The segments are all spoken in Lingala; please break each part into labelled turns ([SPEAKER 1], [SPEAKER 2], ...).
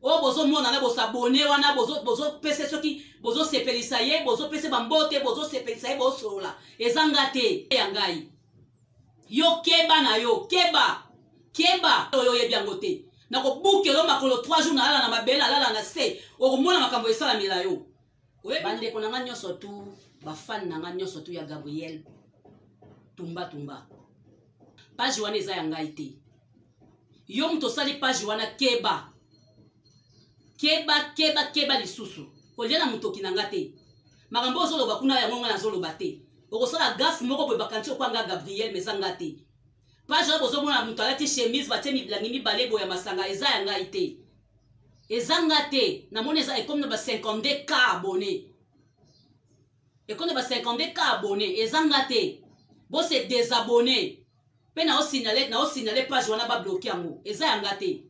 [SPEAKER 1] oyo oh, bozomona na bosabone wana bozopesa bozo soki bozosepelisa ye bozopesa bambote bozosepelisa ye bosolola eza nga te ya ngai yo keba na yo keba keba oyo oyebi yango te nakobukela yo makolo 3 jours nalala na mabele nalala na se okomona makambo esalamela yo bandeko na nga nyonso tu bafane na nga nyonso tu ya gabriel tumba tumba page wana eza ya ngai te yo moto osali page wana keba keba keba keba lisusu kolia na motoki na nga te makambo ozoloba kuna yango ngai nazoloba te okosala gafe moko boye bakanisi okwanga gabriel ma eza nga te page wana bozomona moto alati chemise batie milangi mibale boye ya masanga eza ya ngai te eza nga te namoni eza ekomi na ba 52 k abonné ekomi na ba 52 k abonné eza nga te bose desabonné mpe naosignale naosignale page wana babloke yango eza ya nga te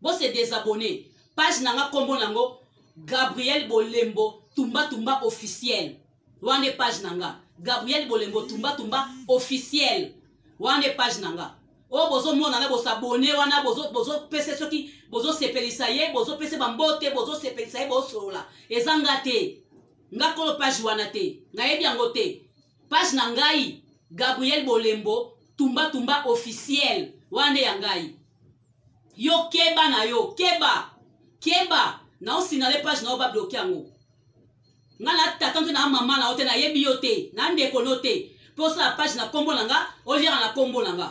[SPEAKER 1] bose desabonné page na nga nkombo na yango gabriel bolembo tumbatumba officiel wana nde page na nga gabriel bolembo tumba tumba officiel wana nde page na nga oyo oh, bozomonana bosabone wana bozopese bozo soki bozosepelisa ye bozopese bambote bozosepelisa ye bosolola eza nga te nga kolo page wana te nayebi yango te page na ngai gabriel bolembo tumba tumba officiel wana nde ya ngai yo keba na yo keba keba naosinale page na yo babloke yango nga na tata mpe na mama na yo te nayebi yo te na ndeko no te mpe osala page na nkombo na nga oliaka na nkombo na nga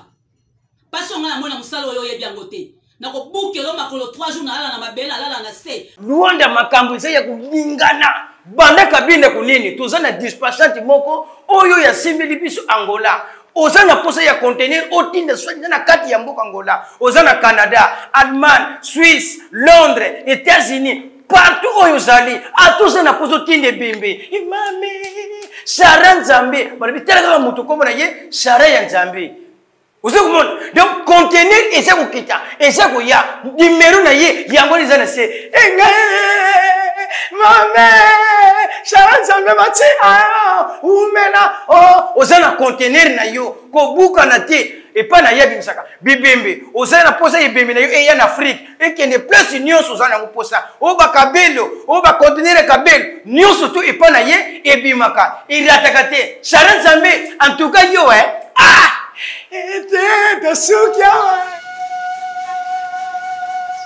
[SPEAKER 1] mpasi onga namoi na mosala oyo oyebi yango te nakobukelo makolo 3 jours nalala na mabele alala na se luanda makambo eza
[SPEAKER 2] ya kolingana banda kabine kunini toza na dispasante moko oyo yasimbeli biso angola oza na mposa ya contenir otinda swadi na kati ya mboka angola oza na canada allemagne suisse londres états-unis partout oyo ozali ata oza na kozo tinda ebembe imame sara nzambe balobi tala kaka moto nkombo na ye sara ya nzambe oza komona donc contenir eza kokita eza koya nimero na ye yango eza na se enge mame sara nzambe mati umela o oh, oza na contenir na yo kobukana te epai na ye abimisaka bibembe ozali na mposa ebembe na yo eya na afrike ekende place nyonso oza nango mposa oyo bakabelo oyo bakontenere kabelo nyonso to epa na ye ebimaka erataka te shara nzambe antuka yo e ah! ete tosuki awa